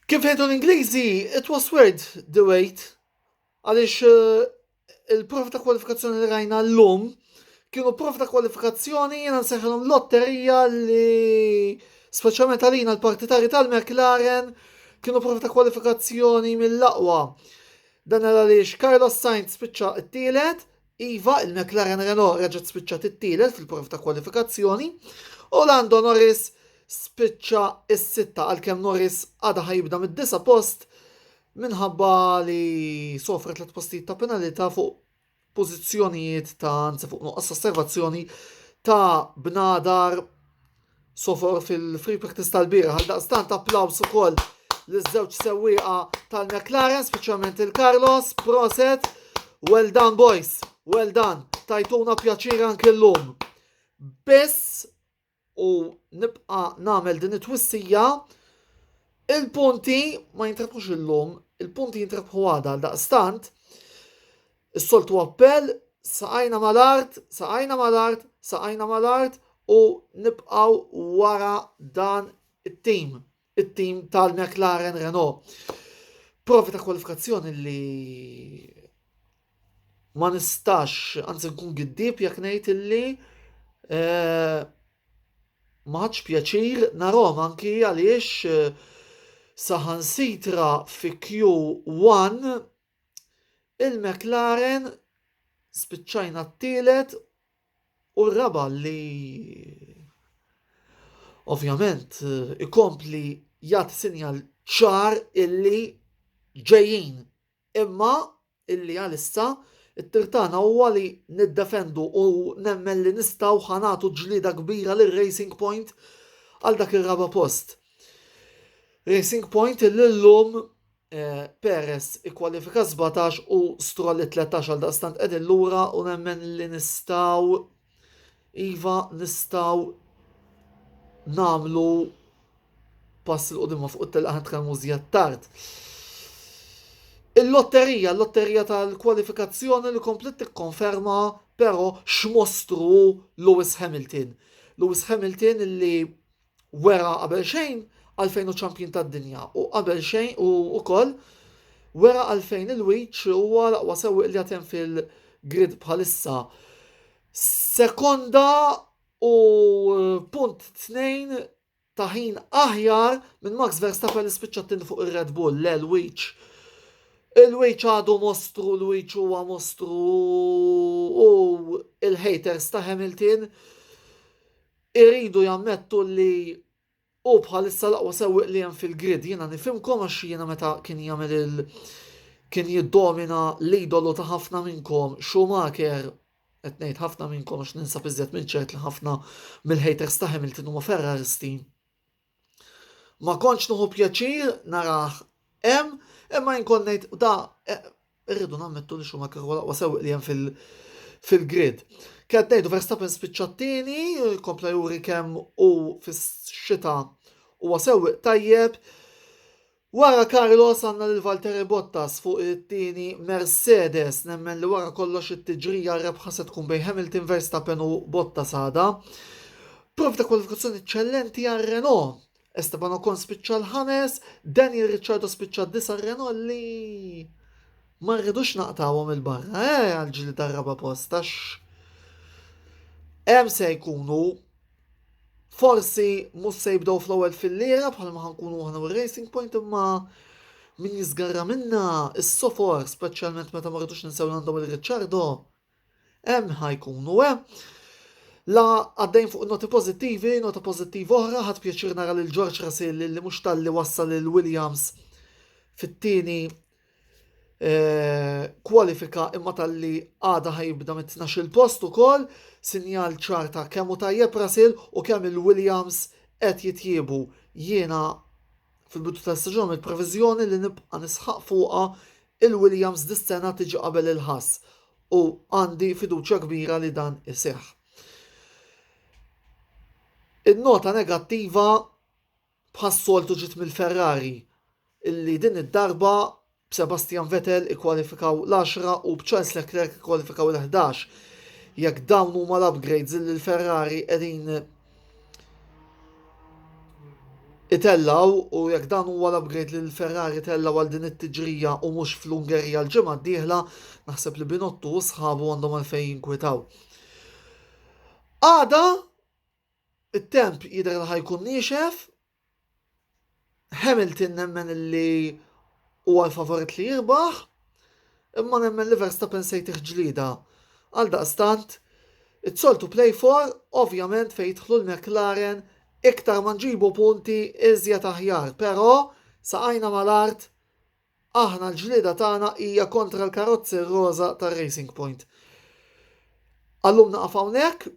Kif jgħidu l-Ingliżi, it was worth the wait għaliex il-prof ta' kwalifikazzjoni li rajna l-lum kienu prof ta' kwalifikazzjoni jena nseħħilhom lotterija li speċjalment għalina l-partitari tal-McLaren kienu prof ta' kwalifikazzjoni mill-aqwa. Dan għaliex Carlos Sainz spiċċa t-tielet, Iva, il-McLaren Renault reġgħet spiċċat it-tielet fil-prov ta' kwalifikazzjoni u Lando Norris spiċċa s-sitta għalkemm Norris għadha ħajibda mid-disa post minħabba li sofra tliet postijiet ta' penalità fuq pożizzjonijiet ta' anzi fuq nuqqas osservazzjoni ta' bnadar Sofor fil-free practice tal-bieraħ għaldaqstant applaws ukoll liż-żewġ sewwieqa tal-McLaren, speċjalment il-Carlos, proset, well done boys, well done, tajtuna pjaċir anke llum. Biss u nibqa' nagħmel din it-twissija il-punti ma jintrebħux illum, il-punti jintrebħu għada għal daqstant Is-soltu appell, saqajna mal-art, saqajna mal-art, saqajna mal-art u nibqaw wara dan it-tim, it-tim tal-McLaren Renault. Provi ta' kwalifikazzjoni li ma nistax, anzi nkun giddib jekk ngħid illi eh, ma ħadx pjaċir narhom anki għaliex eh, saħansitra fi Q1 Il-McLaren spiċċajna t-tielet u r-raba' li ovvjament ikompli jagħti sinjal ċar illi ġejjin imma illi għalissa t-tir tagħna huwa li niddefendu u nemmen li nistgħu ħa nagħtu ġlieda kbira lil Racing Point għal dak ir-raba' post. Racing Point illum Perez ikkwalifika 17 u Stroll 13 għal daqstant qegħdin lura u nemmen li nistgħu iva nistgħu nagħmlu pass il qudimma fuq it-telqa tkellmu żjed tard. Il-lotterija, l-lotterija tal-kwalifikazzjoni li komplet tikkonferma però x'mostru Lewis Hamilton. Lewis Hamilton li wera qabel xejn għalfejn hu ċampjun tad-dinja u qabel xejn u wkoll wera għalfejn il-wiċ huwa l-aqwa sewwieq li għatem fil-grid bħalissa. Sekonda u eh, punt tnejn ta' ħin aħjar minn Max Verstappen li spiċċa tin fuq ir-Red Bull, le l-wiċ. Il-wiċ għadu mostru, l-wiċ huwa mostru u il-haters ta' Hamilton Iridu jammettu li hu bħalissa l-aqwa sewwieq li hemm fil-grid. Jiena nifhimkom għax jiena meta kien jagħmel il kien jiddomina l-idolu ta' ħafna minnkom Schumacher qed ngħid ħafna minnkom għax ninsab iżjed minn ċert li ħafna mill-haters ta' Hamilton huma Ferraristi. Ma kontx nuħu pjaċir narah hemm, imma jien kont ngħid da eh, irridu nammettu li xuma kieku laqwa sewq li hemm fil fil-grid. Kien ngħidu Verstappen spiċċa t-tieni, kompla juri kemm u fis-xita huwa sewq tajjeb, Wara Carlos għandna lil Valtteri Bottas fuq it-tieni Mercedes. Nemmen li wara kollox it-tiġrija r-rebħa se tkun bejn Hamilton, Verstappen u Bottas għada. Prov ta' kwalifikazzjoni eċċellenti għal Renault. Esteban Ocon spiċċa l-ħames, Daniel Ricciardo spiċċa d-disa' Renault li ma rridux naqtawhom il-barra, eh, għal ġli tar-raba' post għax hemm se jkunu forsi mhux se jibdew fl-ewwel filliera bħalma ħankunu aħna u Racing Point imma min jiżgarra minna is-sofor speċjalment meta ma rridux ninsew għandhom il-Ricciardo hemm ħajkunu hemm. La għaddejn fuq noti pozittivi, nota pozittiva oħra, ħad pjaċir nara lil George Russell li mhux talli wassal lil Williams fit-tieni Eh, kwalifika imma tal-li għada ħajibda mit-12 post ukoll sinjal ċarta kemm u tajjeb Rasil u kemm il-Williams qed jitjiebu. Jiena fil-bidu ta' staġun il-previżjoni li nibqa' nisħaq fuqha il-Williams dis-sena tiġi qabel il-ħass u għandi fiduċja kbira li dan iseħħ. In-nota negattiva Bħas-soltu ġiet mill-Ferrari illi din id-darba b'Sebastian Vettel ikkwalifikaw l-għaxra u b'Charles Leclerc ikkwalifikaw il-ħdax. Jekk dawn huma l-upgrades illi l-Ferrari qegħdin itellgħu u jekk dan huwa l-upgrade li l-Ferrari tellgħu għal din it-tiġrija u mhux fl-Ungerija l-ġimgħa d-dieħla, naħseb li Binottu u sħabu għandhom għalfejn jinkwitaw. Għada It-temp jidher li ħa jkun niexef. Hamilton nemmen li huwa l-favorit li jirbaħ, imma nemmen li Verstappen se jtih ġlieda. Għal daqstant, it-soltu play for, ovvjament fejn jidħlu l-McLaren, iktar ma nġibu punti iżjed aħjar, però saqajna mal-art Aħna l-ġlieda tagħna hija kontra l-karozzi roża ta' Racing Point. Għallum naqaf hawnhekk,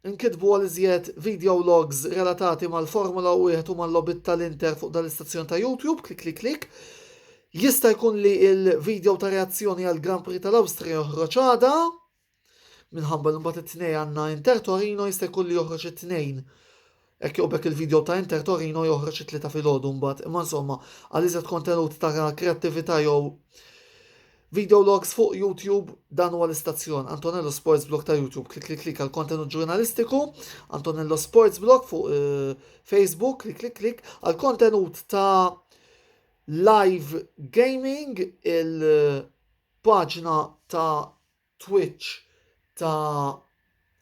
inkitbu għal iżjed videologs relatati mal-Formula 1 u mal-logħbiet tal-Inter fuq dal-istazzjon ta' YouTube, klikklikklikk. Jista' jkun li l-video ta' reazzjoni għall-Grand Prix tal-Awstrija joħroġ għada. Minħabba li mbagħad it-tnej għandna Inter Torino jista' jkun li joħroġ it-tnejn. Hekk joqbek il-video ta' Inter Torino joħroġ it-tlieta filgħodu mbagħad. Imma insomma, għal iżjed kontenut ta' kreattività jew video logs fuq YouTube dan huwa l-istazzjon Antonello Sports Blog ta' YouTube. Klik klik klik għal kontenut ġurnalistiku, Antonello Sports Blog fuq eh, Facebook, klik klik klik għal kontenut ta' live gaming il- paġna ta' Twitch ta'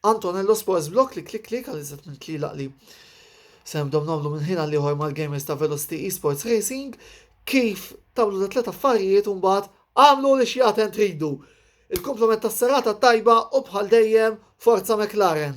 Antonello Sports Block li klik klik għal iżet minn tlilaq li se nibdew nagħmlu minn ħin għal ieħor mal-gamers ta' Velocity Esports Racing kif tagħmlu da tlet affarijiet u mbagħad għamlu li xjaten tridu. Il-komplement tas-serata tajba u bħal dejjem Forza McLaren.